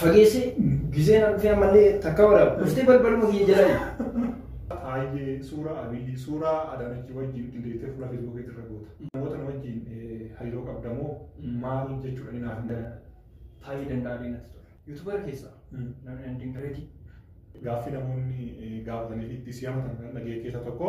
Fageessi gizee na dhufee ammallee takka waraaba. Dhuftee balbaluma kiyya jalaayi. Taayyee, suuraa Abiyyi, suuraa Adaanachii wajjin qindeessitee fuula Facebook irra goota. Namoota na wajjin hariiroo qabda moo maal jechuudha ni naaf hin galan. Taayyee Danda'aalee natti tola. Yuutubar keessaa namni nan dinqreetii. Gaaffii namoonni gaafatanii fi itti si hamatan kan dhaga'e keessaa tokko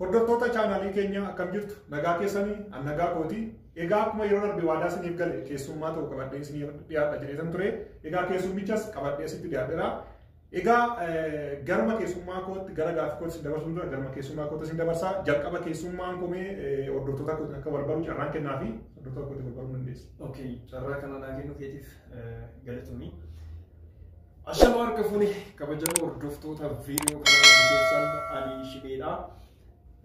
Hordoftoota chaanaalii keenya akkam jirtu nagaa keessanii an nagaa kooti egaa akkuma yeroo darbe waadaa isiniif gale keessummaa ta'u qabadhee isiniif dhiyaadha jedheetan ture egaa keessummichas qabadhee sitti dhiyaadheera Egaa garuma keessummaa kootti gara gaaffii kootti isin dabarsuun dura garuma keessummaa kootti isin dabarsaa jalqaba keessummaan komee hordoftoota kootti akka wal baru carraan kennaa fi hordoftoota kootti wal baruu dandeessu. Okay, carraa kana naa kennu keetiif galatoomii. Ashama harka fuune kabajamoo hordoftoota viidiyoo kanaa keessan ani shibeedha.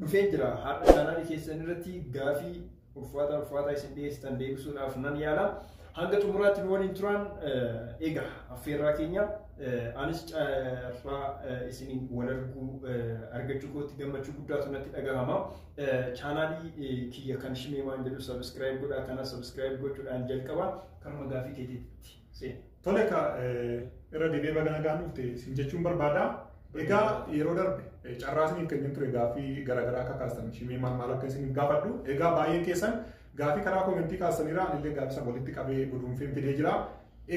Dhufee jira har'a chaanaalii keessan irratti gaafii ulfaataa ulfaataa isin dhiyeessitan deebisuudhaaf nan yaala. Hanga xumuraatti nu waliin turaan egaa affeerraa keenya anis carraa isiniin wal arguu argachuu kootti gammachuu guddaatu natti dhagahama. Chaanaalii kiyya kan Shimeemaan jedhu sabiskiraayib godhaa kana sabiskiraayib gochuudhaan jalqaba kanuma gaafii keetiitti. Siin. Tole akka irra deebi'ee baga nagaan dhufte siin jechuun barbaada. Egaa yeroo darbe eh, carraa isiniif kenneen ture gaaffii garaagaraa akka kaastan shimee maal maal akka isiniif gaafadhu. Egaa baay'een keessan gaaffii karaa koomentii kaastaniirra anillee gaaffii san walitti qabee guduunfeen fidee jira.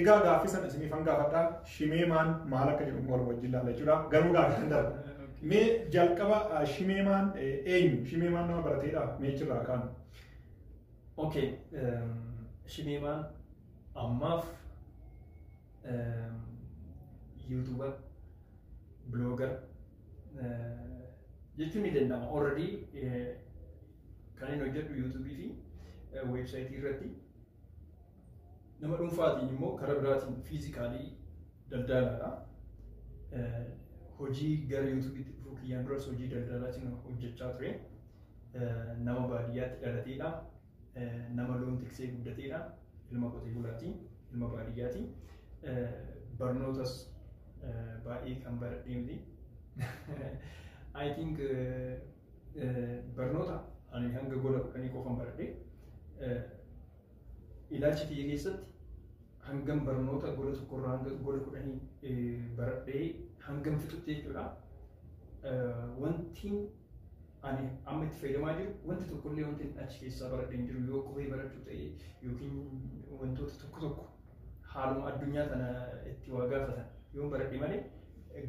Egaa gaaffii san isiniif an gaafadha. Shimee maal maal akka jedhu wal wajjin laalla jechuudha. Garuu gaaffii san darba. Mee jalqaba ah, shimee maal eh, eenyu? Shimee maal nama barateedha? Mee achirraa kaanu. Okay. Shimeemaan Ammaaf yuutuubar biloogar jechuun ni danda'ama. Already kan inni hojjedhu yuutuubii fi weebsaayitii irratti nama dhuunfaatiin immoo karaa biraatiin fiizikaalii daldalaadha. Hojii gara yuutuubiitti dhufuu kiyyaan duras hojii daldalaatiin hojjechaa ture. Nama baadiyyaatti dhalateedha. nama loon tiksee guddateedha. Ilma qotee bulaati. Ilma baadiyyaati. Barnootas baay'ee kan baradhee miti. I think barnoota ani hanga gola kudhanii qofan baradhe. Ilaalcha kiyya keessatti hangam barnoota gola tokkorraa hanga gola kudhanii baradhee hangam fixutti jechuudha. Wantiin ani amma itti fayyadamaa jiru wanti tokkollee wanti achi keessaa baradhe hin jiru yoo qubee barachuu ta'e yookiin wantoota tokko tokko haaluma addunyaa tana itti waa gaafatan yoo baradhe malee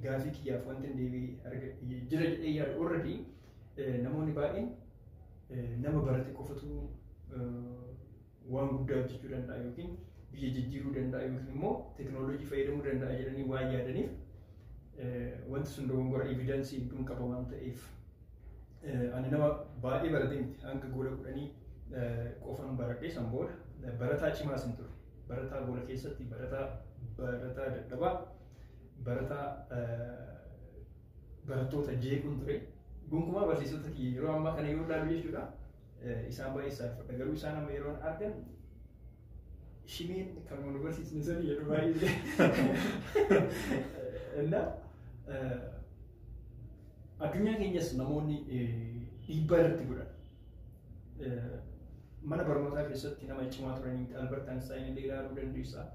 gaafii kiyyaaf wanti hin deebi'e argadhe jira jedhee yaadu already namoonni baay'een nama barate qofatu waan guddaa hojjechuu danda'a yookiin biyya jijjiiruu danda'a yookiin immoo teknooloojii fayyadamuu danda'a jedhanii waan yaadaniif wanti sun dogongora evidensii hedduun qaba waan ta'eef ani nama baay'ee baratee miti hanga gola kudhanii qofan baradhee san booda barataa cimaa sin ture barataa gola keessatti barataa barataa dadhabaa barataa barattoota jeequun ture gonkumaa barsiisota kiyya yeroo ammaa kana yoo ilaalu jechuudha Isaan baay'ee saalfadha garuu isaan amma yeroon argan shimeen kan nu barsiisne san jedhu baay'ee እና addunyaa keenyas namoonni dhiibbaa irratti godhan mana barnootaa keessatti nama cimaa turanii Albert Einstein illee ilaaluu dandeessaa.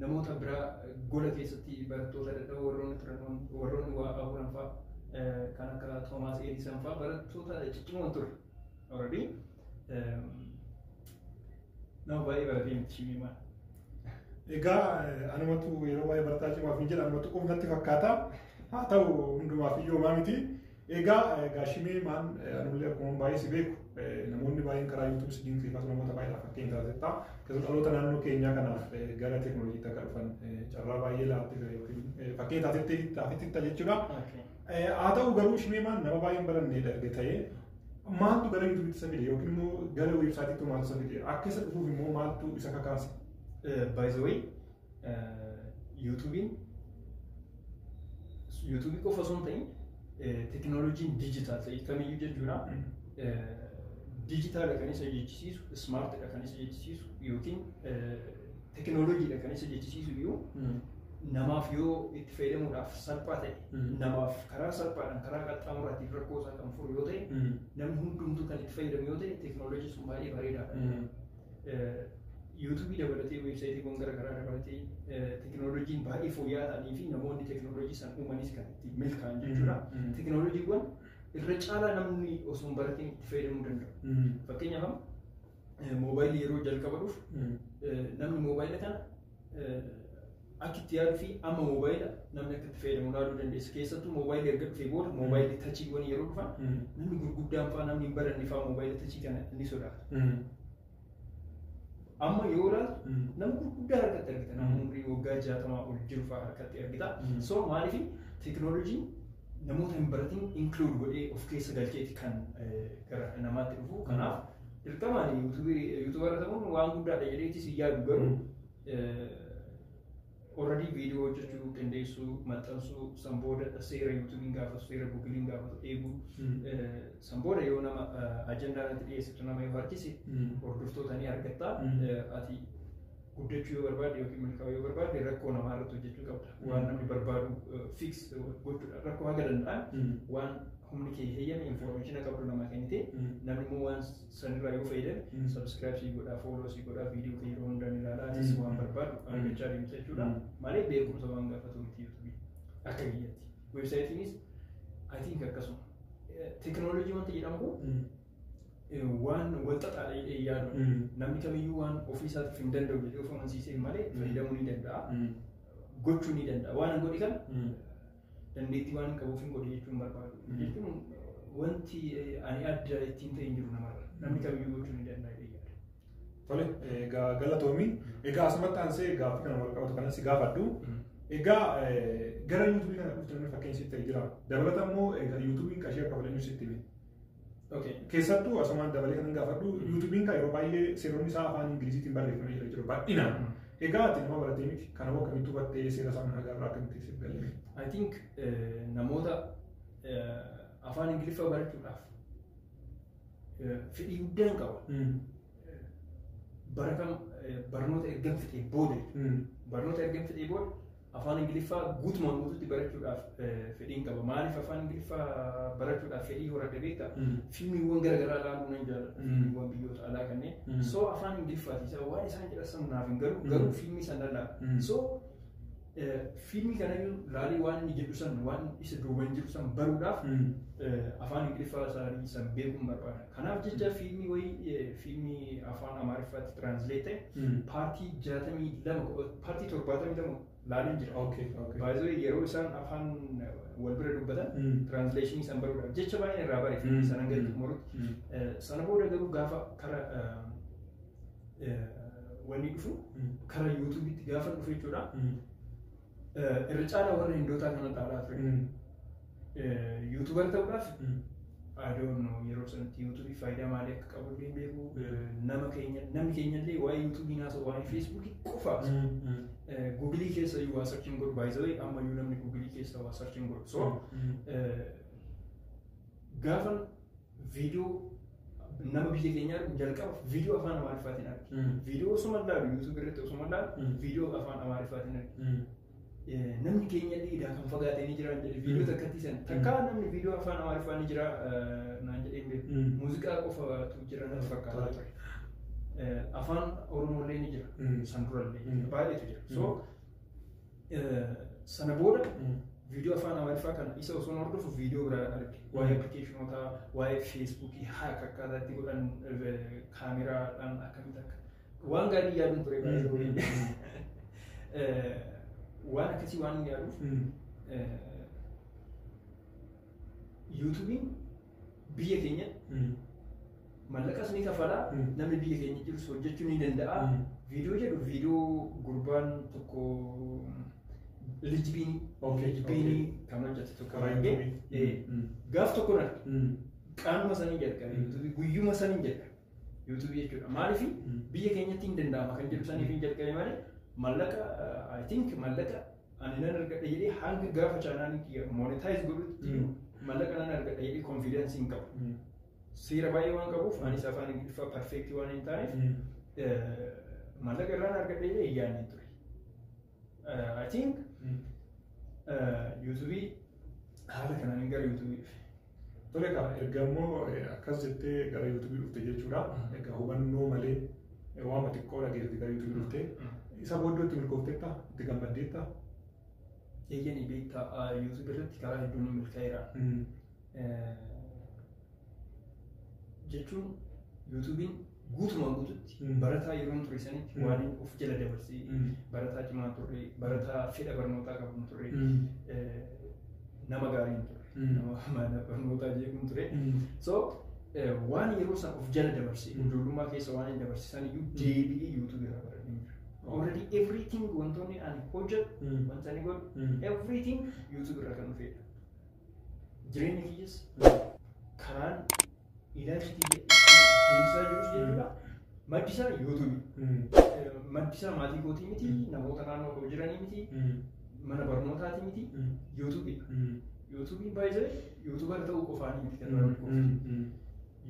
namoota biraa gola keessatti barattoota dadhaboo warroonni turan warroonni waa qaburan fa'a kan akka Toomaas Eedisan fa'a barattoota ciccimoon ture. Already nama baay'ee baratee miti shimiimaan. Egaa anumatu yeroo baay'ee barataa cimaaf hin jedha anumatu qubnatti fakkaata. Haa ta'u hundumaaf iyyuu homaa miti. Egaa egaa shimee maan anullee akkuma baay'ee si beeku namoonni baay'een karaa YouTube si dinqisiifatu namoota baay'eedhaaf fakkeenya taasifta. Keessumaa dhaloota naannoo keenyaa kanaaf gara teekinooloojiitti akka dhufan carraa baay'ee laattee jira yookiin fakkeenya taasiftee taasiftitta jechuudha. Haa ta'u garuu shimee maan nama baay'een barannee darge ta'ee maaltu gara YouTube isa fide yookiin immoo gara weebsaayitiitti maaltu isa fide akka isa dhufuuf immoo maaltu isa kakaase. By the way Yuutuubiin yuutuubii qofa osoo hin ta'in teekinooloojiin diijitaal ta'e kamiyyuu jechuudha. Diijitaala kan isa jechisiisu, ismaartidha kan isa jechisiisu yookiin teekinooloojiidha kan isa jechisiisu iyyuu namaaf yoo itti fayyadamuudhaaf salphaa ta'e namaaf karaa salphaadhaan karaa qaxxaamuraatiin rakkoo isaa kan furu yoo ta'e namni hundumtuu kan itti fayyadamu yoo ta'e teekinooloojiin sun baay'ee bareedaadha. Yuutuubii dabalatee weebsaayitiiwwan garaagaraa dabalatee teekinooloojiin baay'ee fooyya'aa ta'anii fi namoonni teekinooloojii san uumanis kan itti milkaa'an jechuudha. Teekinooloojiiwwan irra caalaa namni osoo hin baratiin itti fayyadamuu danda'u. Fakkeenyaaf amma moobaayilii yeroo jalqaba dhufu namni moobaayila kana Akka itti yaaduu fi amma moobaayila namni akka itti fayyadamu ilaaluu dandeessa. Keessattuu moobaayilli erga dhufee booda moobaayilli tachiiwwan yeroo dhufan namni gurguddaan fa'aa namni hin baranne fa'aa moobaayila tachii kana ni sodaata. Amma yoo ilaaltu nama gurguddaa harkatti argita. Nama umrii waggaa jaatamaa ol jiru fa'aa harkatti argita. So maaliif teekinooloojiin namoota hin baratin inkluud godhee of keessa galcheeti kan gara namaatti dhufu. Kanaaf dirqamaan yuutuubarra ta'uun waan guddaadha jedheetis hin yaadu garuu Already viidiyoo hojjechuu qindeessuu maxxansuu san booda seera yuutuubiin gaafatu seera guugiliin gaafatu eeguu san booda yoo nama ajandaa irratti dhiyeessitu nama yoo harkise hordoftoota ni argatta ati guddachuu yoo barbaadde yookiin milkaa'uu yoo barbaadde rakkoo namaa irratti hojjechuu qabda waan namni barbaadu fiks gochuudha rakkoo haga danda'an waan humni kee heyyame infoormeeshina qabdu namaa kennite namni immoo waan Sanirraa yoo fayyadame Mhm. subscribe sii godhaa follow sii godhaa video kee yeroo hundaan ilaalaa atis Mhm. waan barbaadu Mhm. argachaa deemta jechuudha Mhm. malee beekumsa waan gaafatu miti youtube akka biyyatti websaayitiinis I think akkasuma tekinooloojii wanta jedhamu kun eh, waan walxaxaadha jedhee yaadu Mhm. namni kamiyyuu waan ofii isaatiif hin danda'u jedhee of amansiisee malee Mhm. fayyadamuu ni danda'a Mhm. gochuu ni danda'a waan hin godhi kana Mhm. Dandeettii waan hin qabuuf hin godhu jechuun barbaadu. Jechuun wanti ani adda ittiin ta'e hin jiru namarra. Namni kamiyyuu gochuu ni danda'a jedhee yaada. Tole, egaa galatoomi. Egaa asumatti aansee gaaffii kana wal qabatu kanas gaafadhu. Egaa gara yuutuubii kana dhufte namni fakkeenya sitti ta'e jira. Dabalata immoo egaa yuutuubiin qarshii akka fayyadu sitti hime. Okay. Keessattuu asumaan dabalee kan gaafadhu yuutuubiin kan yeroo baay'ee seeronni isaa afaan Ingiliziitiin barreeffamee jira jiru baay'inaan. Egaa ati nama baratee miti kanaaf akkamitti hubattee seera isaa mana agarraa akkamitti siif galee. I think eh, namoota eh, afaan Ingiliffaa barachuudhaaf eh, fedhii guddaan qaba. Baratan eh, barnoota ergan fixee booda jechuudha. barnoota ergan fixee booda Afaan Ingiliffaa guutumaan guutuutti barachuudhaaf fedhiin qaba. Maaliif afaan Ingiliffaa barachuudhaaf fedhii horadhe beektaa? Fiilmiiwwan garaagaraa ilaaluu nan jaalladha. Fiilmiiwwan biyyoota alaa kanneen. So afaan Ingiliffaati isa waan isaan jedhan sana naaf hin galu garuu fiilmii sana laala. So fiilmii kana laalee waan inni jedhu sana waan isa duuban jiru sana baruudhaaf afaan Ingiliffaa isaanii sana beekuun barbaada. Kanaaf jecha fiilmii wayii eh, fiilmii afaan Amaariffaatti translate ta'e Mm. paartii 62 paartii 72 laaleen jira. Okay, okay. Baay'ee yeroo isaan afaan eh, wal bira dubbatan Mm. translation isaan baruudhaaf jecha baay'een irraa bare Mm. sana gadi Mm. xumurutti. Mm. Eh, Sana booda garuu gaafa kara eh, eh, wanni dhufu Mm. kara yuutuubitti gaafa dhufe jechuudha. Mm. Eh, Irra caalaa warra hindootaa kana dhaalaa ture. Mm. Eh, Yuutubar ta'uudhaaf Mm. I don't know yeroo sanatti yuutuubii faayidaa maalii akka qabu illee hin beeku. Eh, Nama keenya namni keenya illee waa'ee yuutuubii naasoo waa'ee feesbuukii qofa. Mm. Mm. Eh, Guugilii keessa iyyuu waa sarchiin godhu baay'isawee ammayyuu namni guugilii keessa waa sarchiin godhu. So Mm. eh, gaafa viidiyoo nama biyya keenyaa argu jalqaba viidiyoo afaan amaariffaatiin arge. Mm. Viidiyoo osuma laalu yuutuubii irratti osuma laalu Mm. viidiyoo afaan amaariffaatiin arge. Mm. Eh, Namni keenya illee idaa kan fagaatee ni jiraan jedhe viidiyoo Mm. takkatti san. Takkaa namni viidiyoo afaan amaariffaa ni jira eh, naan jedhee hin beeku. Mm. Muuziqaa qofatu jira natti fakkaata Tola. ture. Eh, Afaan Oromoo illee ni jira. Mm. San dura illee Mm. baay'eetu jira. So Sana booda viidiyoo afaan Amaariffaa kana isa osoo hordofu viidiyoo biraa arge. Waa'ee appilikeeshinootaa, waa'ee feesbuukii haaka akkaataa itti godhan kaameraadhaan akkamitti akka waan gaarii yaaduun ture baay'ee. Waan akkasii waan yaaduuf yuutuubiin biyya keenya mallaqas ni kafala namni biyya keenya jirus hojjechuu ni danda'a viidiyoo jedhu viidiyoo gurbaan tokko lijbiinii Okay, lijbiinii kan hojjete tokko Karaa argee YouTube. eh, Mm. gaaf tokko na qaanuma sanii jalqabe yuutuubii guyyuma sanii jalqabe yuutuubii jechuudha maaliif biyya keenyatti hin danda'ama kan jedhu saniif hin jalqabe malee mallaqa I think mallaqa ani nan argadha jedhee hanga gaafa chaanaalii kiyya monetize godhutti Mm. mallaqa nan argadha jedhee confidence hin qabu. Mm. Seera baay'ee waan qabuuf anis afaan Ingiliffaa perfeektii waan hin taaneef Mm. eh, mallaqa irraan argadha jedhee hin yaadne ture. Eh, I think Mm. eh, yuutuubii haala kanaan gara yuutuubii dhufe. Tole kaa erga immoo akkas jettee gara yuutuubii dhufte jechuudha. Egaa hubannoo malee waanuma xiqqoo dhageessite gara yuutuubii dhufte. Isa booddee itti milkoofteetta itti gammaddeetta. Eeyyanii beektaa yuutuubii irratti karaa hedduun ni milkaa'eera. Jechuun yuutuubiin guutumaan guututti Mm. barataa yeroon ture sanitti Mm. waan of jala dabarsee Mm. barataa cimaa turre barataa fedha barnootaa qabu turre Mm. eh, nama gaarii hin turre Mm. nama mana barnootaa jeequu hin ture Mm. so eh, waan yeroo san of jala dabarsee Mm. ijoollummaa keessa waan hin dabarsisan iyyuu deebi'ee yuutuubii irraa baradhee jira Oh. already everything wantoonni ani hojjedhu Mm. wanta ani godhu Mm. everything yuutuubii irraa kan dhufeedha Jireenyi kiyyas karaan ilaalchi kiyya deemsaa jirus jechuudha. Maddi isaa yuutuubi. Maddi isaa maatii kootii miti, namoota naannoo koo jiranii miti, mana barnootaati miti, yuutuubi. Yuutuubiin baay'ee yuutuubara ta'uu qofaan miti kan nama milkooftu.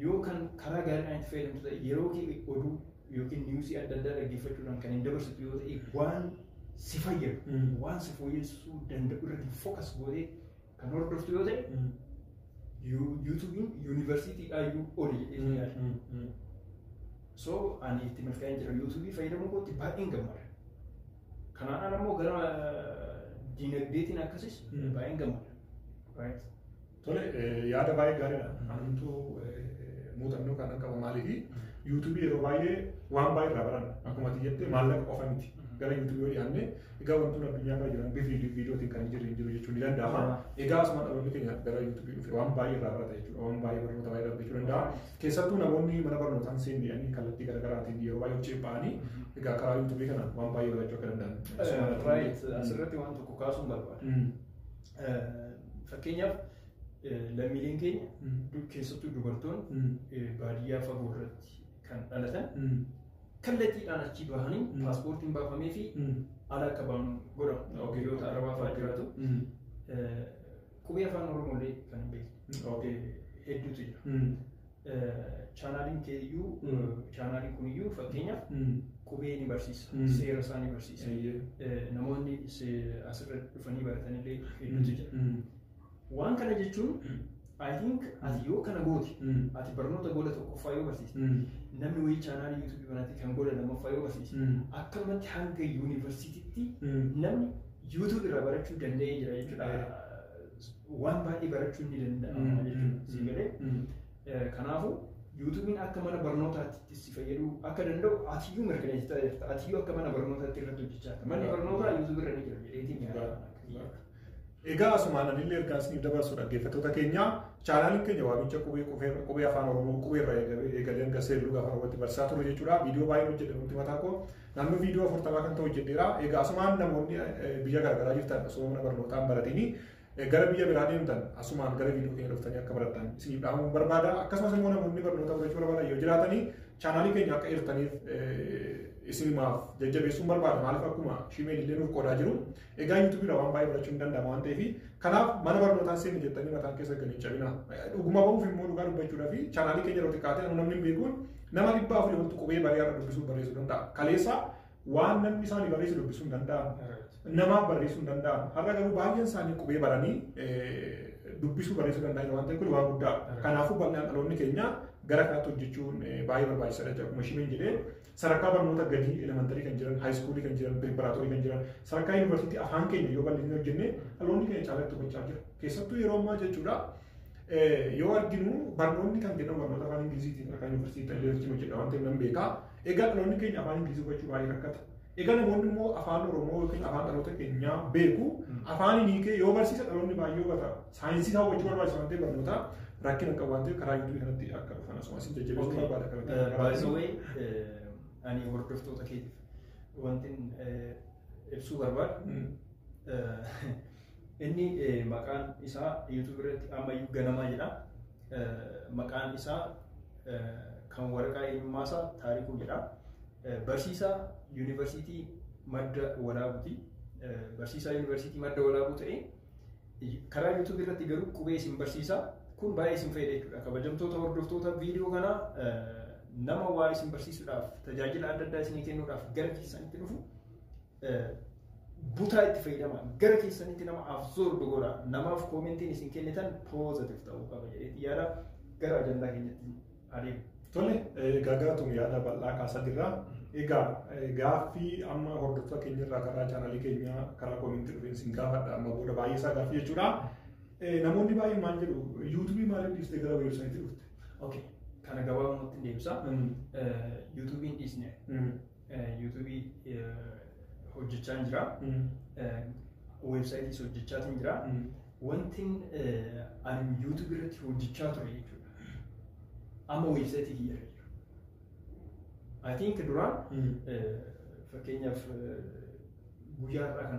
Yoo kan karaa gaariidhaan itti fayyadamtu ta'e yeroo kee oduu yookiin niwusii adda addaa dhaggeeffachuudhaan kan hin dabarsitu yoo ta'e waan si fayyadu Mm. waan si fooyyessuu danda'u irratti fookas gootee kan hordoftu yoo ta'e Mm. yu- yuutuubiin yuunivarsiitiidhaa iyyuu oli jedhee Mm. yaada. Mm. Mm. So ani itti milkaa'een jira yuutuubii fayyadamuu kootti baay'een gammada. Kanaan ala immoo gara eh, diinagdeetiin akkasis Mm. baay'een gammada. Right? Tole yaada baay'ee gaariidha. Anumtuu muuxannoo kan qabu maaliifi yuutuubii yeroo baay'ee waan baay'ee irraa baranna. Akkuma ati jettee maallaqa qofa miti. Gara yuutuubii yoo dhiyaanne egaa wantoonni addunyaa irra jiran bifi viidiyootiin kan hin jirre hin jiru jechuun ni danda'ama. Egaa asuma dhaloonni keenya gara yuutuubii dhufe waan baay'ee irraa barata jechuudha. Waan baay'ee barnoota baay'ee irraa jechuu danda'a. Keessattuu namoonni mana barnootaan seenanii kallattii garaagaraatiin yeroo baay'ee hojii ba'anii egaa karaa yuutuubii kana waan baay'ee barachuu akka danda'an. Right. Asirratti waan tokko kaasuun barbaada. Fakkeenyaaf lammiileen keenya keessattuu dubartoonni baadiyyaa fagoo irratti kan dhalatan kallattiidhaan achi bahanii paaspoortiin baafamee fi ala akka ba'an godhamu. Biyyoota Arabaa fa'aa jiraatu. Qubee afaan Oromoolee kan hin beekne hedduutu jira. Chaanaaliin kee iyyuu chaanaaliin kun iyyuu fakkeenyaaf qubee ni barsiisa Mm. seera isaa ni barsiisa Eeyyee. Eh, namoonni se- asirra dhufanii baratanillee hedduutu jira Mm. waan kana jechuun I think ati yoo kana goote Mm. ati barnoota gola tokkoffaa yoo barsiiste Mm. namni wayii chaanaalii yuutuubii banaatii kan gola lammaffaa yoo barsiise Mm. akkanumatti hanga yuunivarsiitiitti Mm. namni yuutuubii irraa barachuu danda'ee jira jechuudha waan baay'ee barachuun ni danda'ama jechuudha. Si galee kanaafuu yuutuubiin akka mana barnootaatti si fayyaduu akka danda'u atiyyuu mirkaneessitaa jirta. Atiyyuu akka mana barnootaatti irratti hojjechaa jirta. Manni barnootaa yuutuubii irra ni jira jedheetiin yaada. Egaa asumaan anillee ergaa isiniif dabarsu dhaggeeffattoota keenya chaanaaliin keenya waamicha qubee qufee qubee afaan oromoo qubee irraa eegalee hanga seerluu gaafa irratti barsiisaa turre jechuudha. Viidiyoo baay'ee hojjedhe nuti mataa koo Naannoo viidiyoo afurtamaa kan ta'u hojjedheera. Egaa asumaan namoonni biyya garaagaraa jirtan osoo mana barnootaa hin baratini gara biyya biraa deemtan asumaan gara viidiyoo keenya dhuftanii akka barattan isiniif dhaamuun barbaada. Akkasumas immoo namoonni barnoota fudhachuu barbaadan yoo jiraatanii chaanaalii keenya akka hirtaniif isinimaaf jajjabeessuun barbaada. Maaliif akkuma shiimeen illee nuuf qoodaa jiru. Egaa yuutuubiidha waan baay'ee barachuun danda'ama waan ta'eef kanaaf mana barnootaa seenu jettanii mataan keessa gadi hin cabina. Dhuguma bahuuf immoo dhugaa dubbachuudhaa fi chaanaalii keenya irratti kaatee namni hin beekuun Nama dhibba afurii oltu qubee bareedaadha dubbisuun barreessuu danda'a. Kaleessa waan namni isaanii barreessu dubbisuun danda'amu. Namaaf barreessuun danda'amu. Har'a garuu baay'een isaanii qubee baranii dubbisuu barreessuu danda'an waan ta'eef kun waan guddaadha. Kanaafuu bal'inaan dhaloonni keenya gara kanaatti hojjechuun baay'ee barbaachisaadha jedha. Akkuma isheen jedhee sadarkaa barnoota gadii elementarii kan jiran, haayiskuulii kan jiran, piriparaatorii kan jiran, sadarkaa yuunivarsiitii afaan keenya yoo bal'inni hojjenne dhaloonni keenya caalatti hubachaa jira. Keessattuu yeroo ammaa jechuudha yoo arginu barnoonni kan kennamu barnoota afaan Ingiliziitiin kan yuunivarsiitii illee wajjin hojjedha waan ta'eef nan beeka. Egaa dhaloonni keenya afaan Ingilizii hubachuu baay'ee rakkata. Egaa namoonni immoo afaan Oromoo yookiin afaan dhaloota keenyaa beeku afaan inni kee yoo barsiisa dhaloonni baay'ee hubata. Saayinsii isaa hubachuu barbaachisa waan ta'eef barnoota rakkina qabu waan ta'eef karaa yuutuubii kanatti akka dhufan asumas hin jajjabeessu barbaada kan Baay'isawee ani hordoftoota keetiif wantin ibsuu barbaadu Inni maqaan isaa YouTube irratti ammayyuu ganamaa jedha. Maqaan isaa kan waraqaa eenyummaa isaa Taarikuu jedha. Barsiisaa Yuunivarsiitii Madda Walaabuuti. Barsiisaa Yuunivarsiitii Madda Walaabuu ta'ee karaa YouTube irratti garuu qubee isin barsiisa. Kun baay'ee isin fayyada jechuudha. Kabajamtoota hordoftoota viidiyoo kanaa nama waa isin barsiisuudhaaf tajaajila adda addaa isinii kennuudhaaf gara keessanitti dhufu butaa itti fayyadama gara keessanitti nama absorb godha namaaf koomentiin isin kennitan positive ta'uu qaba jedheetti yaada gara ajandaa keenyatti adeemu. Tole gagaatuun yaada bal'aa kaasaa jirra. Egaa gaaffii amma hordoftoota keenya irraa karaa chaanalii keenya karaa koomentii dhufeen isin gaafadha amma booda baay'ee isaa gaaffii jechuudha. Namoonni baay'een maal jedhu yuutuubii maaliif dhiistee gara weebsaayitii dhufte? Okay. Kana gabaabumatti deebisa. Yuutuubiin dhiisne Yuutuubii hojjechaan jira. Weebsaayitiis hojjechaatiin jira. Wanti ani yuutuubii irratti hojjechaa ture jechuudha. Amma weebsaayitii kiyya irra jiru. I think duraan fakkeenyaaf guyyaa irraa kana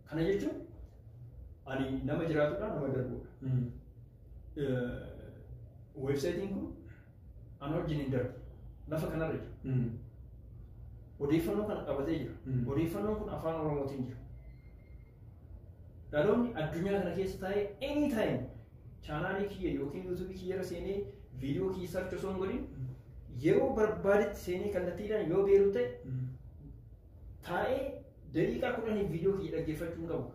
Kana jechuun ani nama jiraatudha nama darbudha. Weebsaayitiin kun ana wajjin hin darbu. Lafa kanarra jira. Odeeffannoo kana qabatee jira. Mm. Odeeffannoon kun afaan Oromootiin jira. Dhaloonni addunyaa kana keessa taa'ee any time chaanaalii kiyya yookiin yuutuubii kiyyarra seenee viidiyoo kiyya sarchi osoo hin godhin yeroo barbaadetti seenee kallattiidhaan yoo beeru ta'e taa'ee Daqiiqaa kudhaniif viidiyoo kiyya dhaggeeffachuu hin qabu.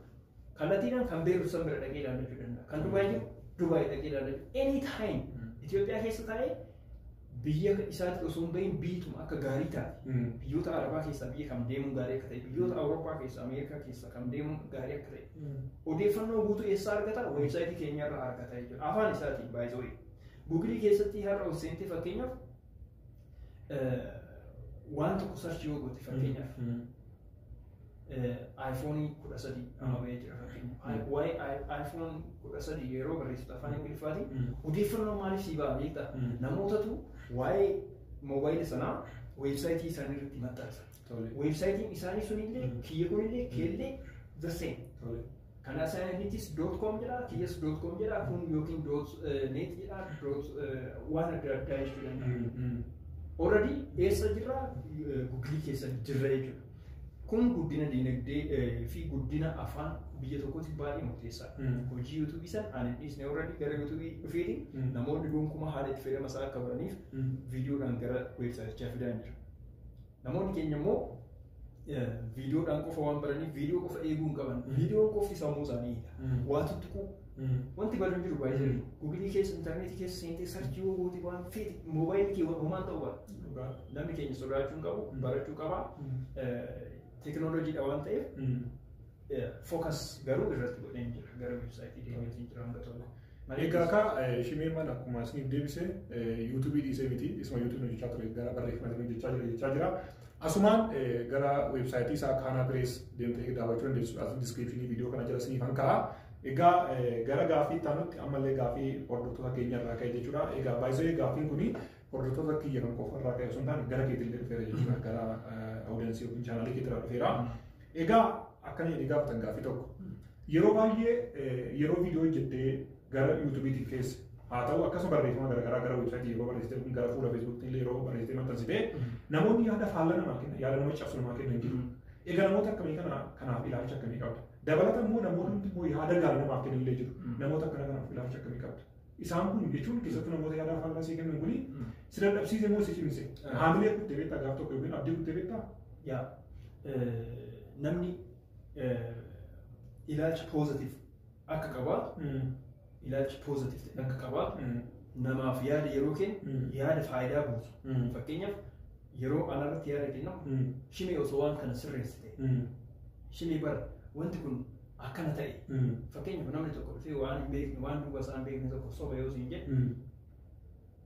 Kallattiidhaan kan Beerut san bira dhaqee ilaallachuu danda'a. Kan Dubaay jiru Dubaay dhaqee ilaallachuu. Any time Itoophiyaa keessa taa'ee biyya isaatti osoo hin bahin biyyituma akka gaarii taate. Biyyoota Arabaa keessaa biyya kam deemuun gaarii akka ta'e, biyyoota Awurooppaa keessaa, Ameerikaa keessaa kam deemuun gaarii akka ta'e. Odeeffannoo guutuu eessaa argata? Weebsaayitii keenyarraa argata jechuudha. Afaan isaatiin baay'ee Guugilii keessatti har'a ol seentee fakkeenyaaf Waan tokko sarchii yoo goote fakkeenyaaf iPhone kudha sadii amma bahee jira fakkeenyaaf. Waa'ee iPhone kudha sadii yeroo barreessitu afaan Ingiliffaatiin odeeffannoon maaliif sii ba'a beekta? Namootatu waa'ee moobaayila sanaa weebsaayitii isaanii irratti maxxansa. Weebsaayitiin isaanii sunillee kiyya kunillee keellee the same. Kan asaayinitis doot koom jedha, kiyyas doot koom jedha, kun yookiin doot neet jedha, doot waan adda addaa jechuu danda'a. Already eessa jirra guggilii keessa jirra jechuudha. Kun guddina dinagdee eh, fi guddina afaan biyya tokkootiif baay'ee murteessaadha. Mm. Hojii yuutuubii san ani dhiisne already gara yuutuubii dhufeeti Mm. namoonni gonkumaa haala itti fayyadama isaa akka godhaniif Mm. viidiyoodhaan gara weebsaayitichaa fidaan jira. Namoonni keenya immoo viidiyoodhaan qofa waan baraniif viidiyoo qofa eeguu hin qaban. Viidiyoon qofti sammuu isaanii waa tuttuquu. Wanti badan jiru baay'ee jiru. Gugilii keessa intarneetii keessa seentee sarchii yoo goote waan feete moobaayilii kee homaan ta'uu baata. Namni keenya sodaachuu hin qabu barachuu qaba. Teekinooloojiidha waan ta'eef focus garuu irratti godheen jira gara website deemeetiin jira hanga tokko. Egaa kaa shimee mana akkuma isiniif deebise yuutuubii dhiisee miti isuma yuutuubii hojjechaa ture gara barreeffama isiniif jechaa jira jechaa jira. Asumaan gara weebsaayitii isaa kaanaa pirees deemtee daawwachuu dandeessu as diskiriipshinii viidiyoo kana jala isiniif hanka'a. Egaa gara gaaffii itti aanutti ammallee gaaffii hordoftoota keenya irraa ka'e jechuudha. Egaa baay'isee gaaffiin kun Hordoftoota kiyya kan qofa irraa ka'e osoo hin taane gara keetillee dhufeera jechuudha. Gara awudensii yookiin chaanaalii keetirraa dhufeera. Egaa akkana jedhee gaafatan gaaffii tokko. Yeroo baay'ee yeroo viidiyoo hojjettee gara yuutuubiitiin keessa haa ta'u akkasuma barreeffama garaagaraa gara weebsaayitii yeroo barreessite yookiin gara fuula feesbuukii illee yeroo barreessite maxxansite namoonni yaada faallaa namaa kenna yaada nama cabsu namaa kenna hin jiru. Egaa namoota akkamii kana kanaaf ilaalcha akkamii qabda? Dabalata immoo namoonni immoo yaada gaarii namaaf kenna illee jiru. Namoota akkana kanaaf ilaalcha akkamii qabda? Isaan kun jechuun keessattuu namoota yaadaa faallaa sii kennan kuni si dadhabsiise moo si cimse? Haamilee kutte beektaa gaaf tokko yookiin abdii kutte beektaa? Yaa namni ilaalcha poozatiif akka qabaa ilaalcha poozatiif ta'e akka qabaa namaaf yaada yeroo kennu yaada faayidaa buusu. Fakkeenyaaf yeroo anarratti yaada kennamu shimee osoo waan kana sirreessite shimee bara wanti kun akkana ta'e Mm. fakkeenyaaf namni tokko dhufee waan hin beekne waan duuba isaa hin beekne tokko soba yoo siin jedhe Mm.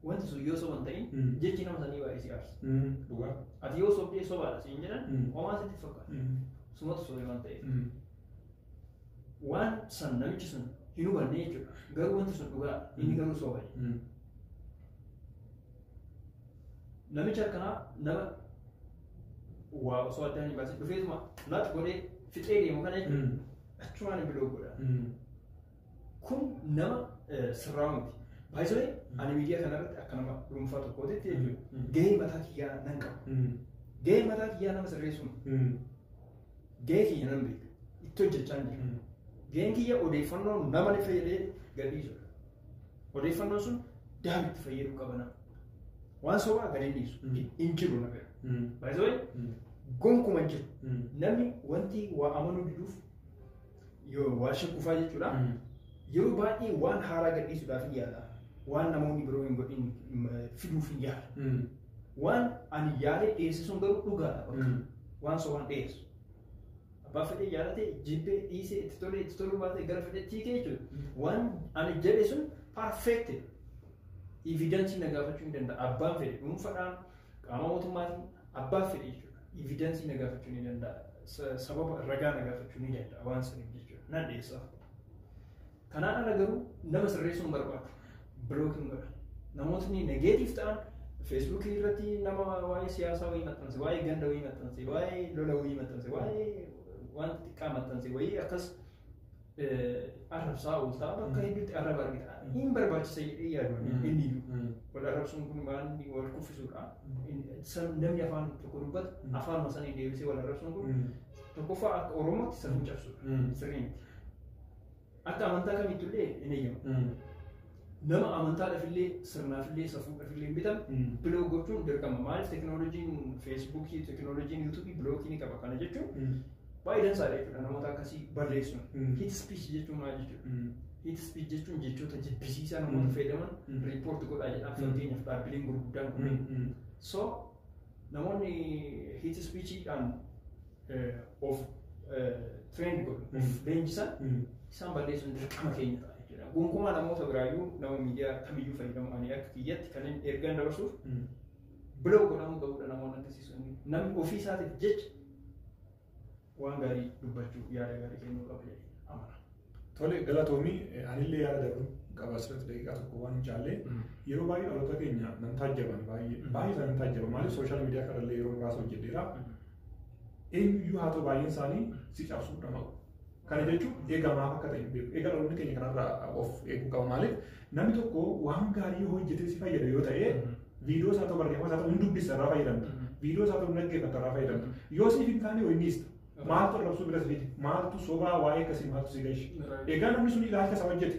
wanti sun yoo soba hin ta'in Mm. jechi nama sanii baay'ee si aarsa Mm. Dhugaa. ati yoo sobdee sobaadha siin jedhan Mm. homaa sitti fakkaata Mm. sumatu sobee waan ta'eef Mm. waan san namichi sun hin hubanne jechuudha garuu wanti sun dhugaa inni garuu soba jedhe Mm. Namicha akkanaa nama waa osoo addaan hin baasin dhufeetuma laat godhee fixee deemu kana jechuudha. Mm. Achumaan hin biloo godha. Mm. Kun nama eh, sirraa miti. Baay'isanii ani miidiyaa kanarratti akka nama dhuunfaa tokkootitti jechuudha. Mm. Gahee mataa kiyyaa nan qaba. Mm. Gahee mataa kiyyaa nama sirreessuun Mm. gahee kiyya nan beeka. Itti hojjechaa hin jiru. Mm. Gaheen kiyya odeeffannoo nama ni fayyadee gadhiisudha. Odeeffannoo sun daam itti fayyaduu qabana. Waan sobaa gadi dhiisu. Hin jiru na bira. Baay'ee gonkuma hin jiru. Namni wanti waa amanuu diduuf yoo waa shakkufaa jechuudha. Yeroo baay'ee waan haaraa gadhiisuudhaaf hin yaala. Waan namoonni biroo hin godhin fiduuf hin yaala. Waan ani yaalee dhiyeesse sun garuu dhugaadha bakka. Waan sobaan dhiyeessu. Abbaa fedhee jaalate jibbee dhiisee itti tolee itti toluu baatee gara fedhetti hiikee jechuudha. Waan ani jedhe sun perfect evidence na gaafachuu ni danda'a. Abbaan fedhe dhuunfadhaan qaama mootummaatiin abbaa fedhe jechuudha. Evidence na gaafachuu ni danda'a. Sababa ragaa na gaafachuu ni danda'a waan saniif jechuudha. Nan dhiyeessaaf. Kanaan ala garuu nama sirreessuu hin barbaadu. Bilook hin godha. Namootni negeetiif ta'an feesbuukii irratti nama waa'ee siyaasaa wayii maxxanse, waa'ee ganda wayii maxxanse, waa'ee lola wayii maxxanse, waa'ee wanta xiqqaa maxxanse wayii akkas arrabsaa ooltaa bakka hedduutti arraba argita. Hin barbaachisa jedhee yaadu inni iyyuu. Wal arrabsuun kun waan wal kuffisuudha. Namni afaan tokko dubbatu afaanuma sana deebisee wal arrabsuun kun tokkoffaa akka Oromootti safuu cabsuudha. Sirrii miti. akka amantaa kamitti illee hin eeyyamu. Nama amantaadhaaf illee sirnaaf illee safuudhaaf illee hin bitan Mm. biloog gochuun dirqama. Maaliif tekinooloojiin feesbuukii, tekinooloojiin yuutuubii bilookii ni qaba. Kana jechuun baay'ee dansaadha jechuudha namoota akkasii balleessuun. Mm. Hit speech jechuun maal jechuudha? Hit speech jechuun jechoota jibbisiisaa namoota Mm. fayyadaman Mm. riippoorti godhaa jedhaaf Mm. fakkeenyaaf dhaabbileen gurguddaan kunneen. So Namoonni hate speechiidhaan of train godhu, of leenjisan isaan balleessuun dirqama keenya ta'a jechuudha. Gonkumaa namoota biraayyuu nama miidiyaa kamiyyuu fayyadamu ani akka kiyyatti kan inni ergaan dabarsuuf biloog godhamuu qabudha namoonni akkasii sun. Namni ofii isaatiif jecha waan gaarii dubbachuu yaada gaarii kennuu qaba jedhee amana. Tole galatoomii anillee yaada dabaluu qaba asirratti daqiiqaa tokko waan hin caalle yeroo baay'ee dhaloota keenya nan taajjaban baay'ee baay'ee isaan nan taajjaban maaliif sooshaal miidiyaa kanallee yeroo muraasa hojjedheera eenyuyyuu haa ta'u baay'een isaanii si cabsuu dhama'u Kana jechuun eegaa maaf akka ta'e hin beeku. Eegaa dhaloonni keenya kanarraa of eeguu qaba. Maaliif namni tokko waan gaarii yoo hojjetee si fayyada yoo ta'e viidiyoo isaa ta'u barreeffama isaa ta'u hin dubbisa irraa fayyadamta. Viidiyoo isaa ta'u hin dhaggeeffata irraa fayyadamta. Yoo siif hin taane wayii miista. Maaltu arrabsuu bira si fide? Maaltu sobaa waa'ee akkasii maaltu si gahe? Egaa namni sun ilaalcha isaa hojjete.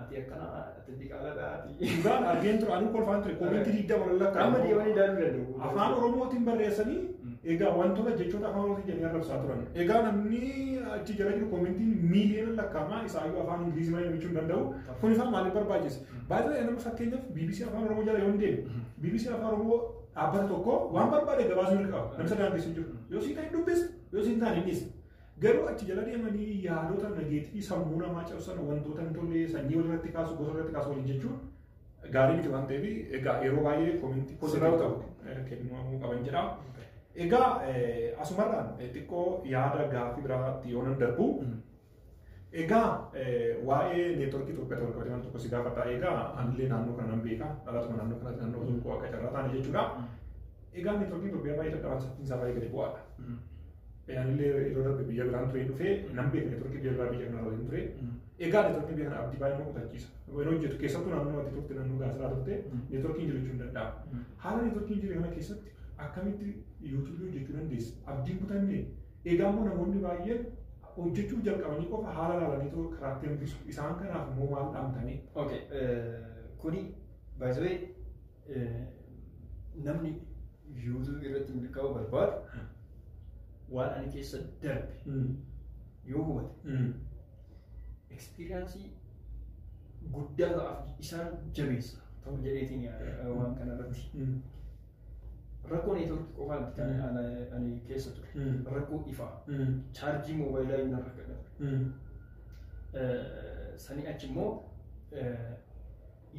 Ati akkana ati diqaaladha ati. Dhugaan argeen ture anuu kolfaan ture koominti digda warra lakkaa. Amma deemanii ilaaluu danda'u. Afaan Oromootiin barreessanii Mm. egaa wantoota jechoota afaan Oromootiin jedhanii arrabsaa turan. Egaa namni achi jala jiru koomintiin miiliyoona lakkaa'amaa isaayyuu afaan Ingilizii malee dubbachuu hin danda'u. Kun isaa maaliif barbaachise? Baay'ee nama fakkeenyaaf BBC afaan Oromoo jala yoo hin deemne BBC afaan Oromoo dhaabbata tokko waan barbaade gabaasuu hin qabu. Namisa daangessu hin jiru. Yoo siin ta'e dubbisa yoo siin taane hin dhiisa. Garuu achi jala deemanii yaadota nageetifii sammuu namaa cabsan wantoota hin tolle sanyii walirratti kaasu gosa irratti kaasu waliin jechuun gaarii miti waan ta'eef egaa yeroo baay'ee koomintii positive ta'u kennuu qaban jedha. Egaa asumarraan xiqqoo yaada gaaffii biraatti yoo nan darbu egaa waa'ee neetworkii Itoophiyaa ta'uu qabatee waan tokko si gaafata egaa anillee naannoo kana nan beeka dhalatuma naannoo kanatti naannoo Zuuqoo akka carraa taane jechuudha. Egaa networkiin Itoophiyaa baay'ee dadhabaa saffiin isaa baay'ee gadi bu'aadha. Anillee yeroo darbe biyya biraan turee dhufee nan beeka networkii biyya biraa biyya kanarra waliin ture. Egaa networkii biyya kana abdii baay'ee nama kutachiisa. Yeroo hojjetu keessattuu naannoo ati turte naannoo gaasiraa turte networkiin jiru jechuun danda'ama. Haala networkiin jiru kana keessatti akkamitti yuutuubii hojjechuu dandeessa? Abdiin kutanne egaa immoo namoonni baay'een hojjechuuf jalqabanii qofa haala laalaniitu karaatti hambisu. Isaan kanaaf immoo maal dhaamtanii? Okay, kuni by the way namni yuutuubii irratti milkaa'uu barbaadu waan ani keessa darbe yoo hubate ekspiriyaansii guddaa ta'aaf isaan jabeessa ta'u jedheetiin yaada waan kana irratti. Rakkoo neetworkii qofaa miti kan ana- ani keessa ture. Rakkoo ifaa chaarjii moobaayilaa inni irra gadhabe. Sanii achi immoo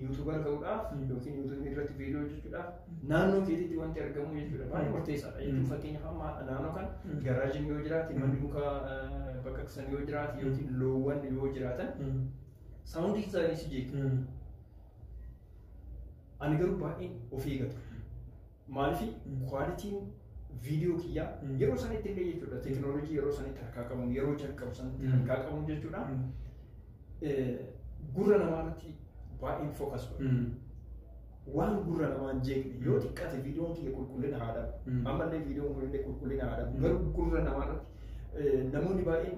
yuutuubar ta'uudhaaf yookiin yuutuubii irratti viidiyoo hojjechuudhaaf naannoo keetiitti wanti argamu jechuudha baay'ee murteessaadha jechuun fakkeenyaaf amma naannoo kan garaajiin yoo jiraate manni muka baqaqsan yoo jiraate yookiin loowwan yoo jiraatan saawundii isaanii si jeequ ani garuu baay'ee of eegatu Maaliif kwaalitiin viidiyoo kiyyaa yeroo sanitti illee jechuudha teekinooloojii yeroo sanitti harkaa qabuun yeroo jalqabu sanitti Mm. harkaa qabuun jechuudha Mm. eh, gurra namaa irratti baay'een fookas godha. Mm. Waan gurra namaa hin jeeqne yoo Mm. xiqqaate viidiyoon kiyya qulqullina haa dhabu. Mm. Ammallee viidiyoon kun illee qulqullina haa dhabu. Mm. Garuu gurra namaa irratti eh, namoonni baay'een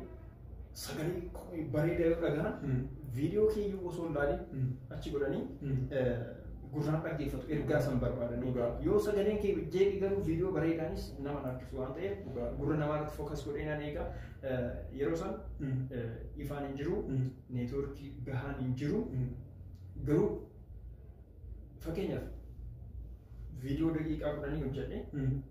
sagalee qubee bareedaa yoo dhagahan Mm. viidiyoo keeyyuu osoo hin laalin Mm. achi godhanii Mm. eh, gurraan dhaggeeffatu ergaa san barbaadanii Dhugaa. yoo sagaleen kee jeeqi garuu viidiyoo bareedaanis nama harkisu waan ta'eef Dhugaa. gurra namaa irratti fookas godhee nan eega Eh, yeroo san Mm. eh, ifaan hin jiru Mm. neetwoorkii gahaan hin jiru Mm. garuu fakkeenyaaf viidiyoo daqiiqaa kudhanii hojjedhe Mm.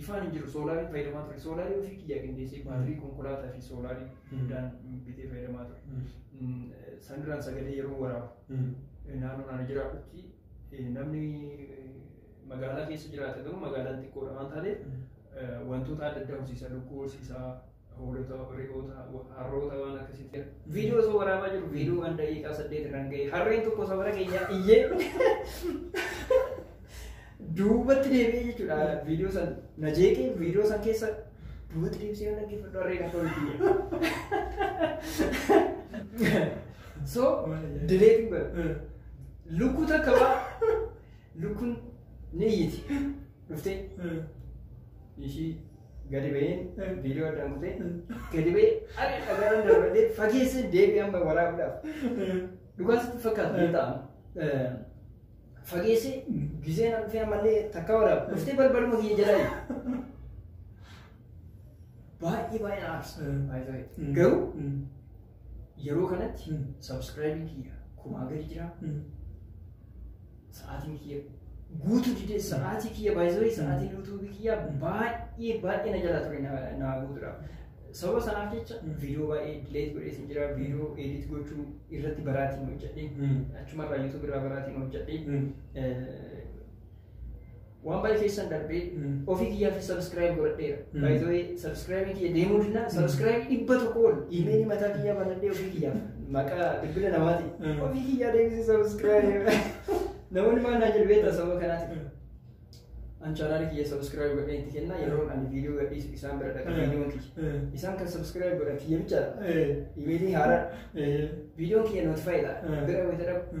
Ifaan hin jiru soolaariin fayyadamaa ture. Soolaarii ofii kiyyaa qindeessee baatirii konkolaataa fi soolaarii hundaan bitee fayyadamaa ture. Mm, Sanirraan sagalee yeroo waraabu naannoo naannoo jiraadhutti eh, namni eh, magaalaa keessa jiraata garuu magaalaan xiqqoodha waan taateef eh, wantoota adda addaa horsiisa lukkuu horsiisa hoolota, re'oota, wa- harroota waan akkasitti gara- viidiyoo osoo waraabaa jiru viidiyoo waan daqiiqaa saddeet irraan ga'e harreen tokko safara keenyaa iyyee duubatti deebi'ee jechuudha viidiyoo san na jeeqee viidiyoo san keessa duubatti deebisee yoo dhaggeeffadhu harreen akka hojii so dileetiin godha lukkuu takka waa lukkuun ni iyyiti dhuftee ishii Gadi ba'een viidiyoo addaan kutee gadi ba'ee ani dhagaarra darbadhee fageessee deebii amma waraabuudhaaf. Dhugaa sitti fakkaatu ni ta'a. Fageessee gizee na dhufee ammallee takka waraabu dhuftee balbaluma kiyya jalaa jiru. Baay'ee baay'ee na aarsa. Garuu Yeroo kanatti hin subscribe kiyya kumaa gadi jira hin sa'aatiin kiyya guutuu didee sa'aatii kiyya baay'isee sa'aatiin yuutuubii kiyya baay'ee baay'ee na jala ture na- naa guutuudha. Sababa sanaaf jecha viidiyoo baay'ee dileet godhee sin jira viidiyoo edit gochuu irratti baraatiin hojjedhe achumarraa yuutuubii irraa baraatiin hojjedhe Waan baay'ee keessan darbee ofii kiyyaa fi sabiskiraayib godhadheera. Mm. Baay'ee sabiskiraayibii kiyya deemuu dinna sabiskiraayibii dhibba tokko ol imeelii mataa kiyyaa banadhee ofii kiyyaaf maqaa bilbila namaatiin Mm. ofii kiyyaa deebisee sabiskiraayib namoonni maal naa jedhu beektaa sababa kanaatiin. An chaanaali kiyya sabiskiraayib godhee itti kenna yeroo ani viidiyoo gadhiisu isaan bira dhaqa viidiyoon kiyya. Isaan kan sabiskiraayib godhan kiyya bichaadha. Imeelii haaraa viidiyoon kiyya notifaayidha Mm. bira wayita dhabu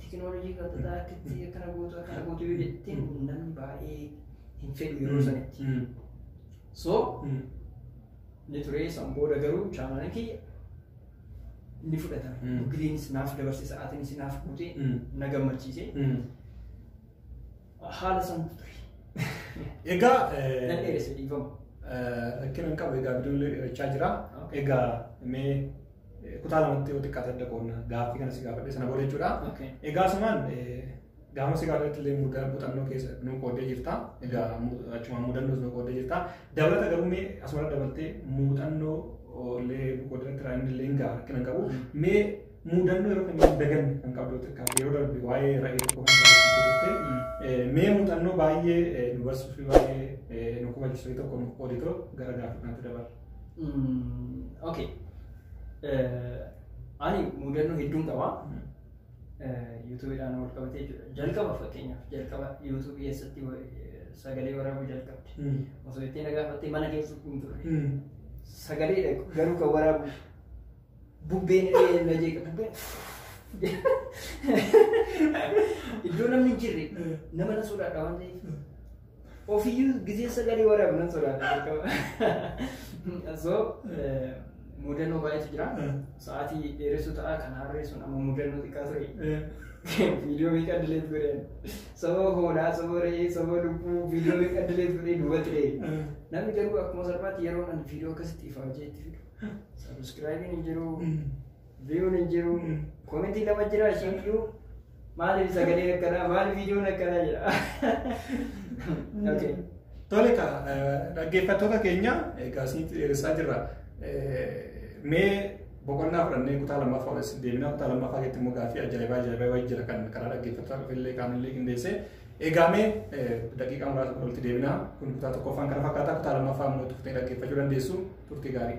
Teekinooloojii kan tataa akkatti akkana gootu akkana gootu yoo jette namni baay'ee hin fedhu yeroo sanitti. So ni ture san booda garuu chaanaalii kiyya ni fudhatama. Mm. Giriinis naaf dabarse sa'aatiinis naaf guute na gammachiise. Haala santu ture. Egaa Nan eh, dheeresse dhiifama. eh, rakkina hin qabu egaa bidiruun dheerachaa jira. Okay. Egaa mee kutaa lamatti yoo xiqqaate adda qoonna gaaffii kana si gaafadhe sana booda jechuudha. Okay. Egaa asumaan gaafa si gaafadhetti illee muda- muuxannoo keessa nu qooddee jirta. Egaa mu- achumaan muudannoos nu qooddee jirta. Dabalata garuu mee asumara dabaltee muuxannoo illee nu qooddee irraa inni illee hin ga'a rakkina hin qabu. Mee muudannoo yeroo kamiyyuu dagan kan qabdu xiqqaa yeroo darbe waa'ee ra'ee tokko kan qabdu turte. Eh, Mee muuxannoo baay'ee eh, nu barsiisuu fi baay'ee eh, nu kubachiisuu tokko nu qooditoo gara gaaffii kanatti dabarra. ok ani mudannoo hedduun qaba yuutuubiidhaan wal qabatee jira jalqaba fakkeenyaaf jalqaba yuutuubii keessatti sagalee waraabuu jalqabde osoo ittiin dhagaafattee mana keessa hin turre sagalee dhaqu garuu kan waraabu bubbeen illee na jeeqa bubbeen iddoo namni hin jirre nama na sodaadha waan ta'eef Ofiyyuu gisee sagalee waraabu nan sodaadha jalqaba. So mudannoo baay'eetu jira. Sa'aatii dheeressuu ta'a kan harreessuun amma mudannoo xiqqaa ture. Viidiyoo meeqa dileet godheen. Sababa hoolaa, sababa re'ee, sababa lubbuu viidiyoo meeqa dileet godhee duubatti re'ee. Namni garuu akkuma salphaatti yeroo nan viidiyoo akkasitti ifa hojjeetti fidu. Sabiskiraayibiin hin jiru. Viyuun hin jiru. Komentiin lama jira isheen iyyuu maaliif sagaleen akkanaa maaliif viidiyoon akkanaa jira. Okay. Tole ka dhaggeeffattoota keenya egaa isinitti dheeressaa jirra. Mee boqonnaa fudhannee kutaa lammaffaa wal isin deebinaa kutaa lammaffaa keessatti immoo gaaffii ajaa'ibaa ajaa'ibaa wayii jira kan karaa dhaggeeffattoota dhufillee qaamillee qindeessee egaa mee daqiiqaa muraasa walitti deebinaa kun kutaa tokkoffaan kana fakkaata kutaa lammaffaa immoo turtee dhaggeeffachuu dandeessu turtii gaarii.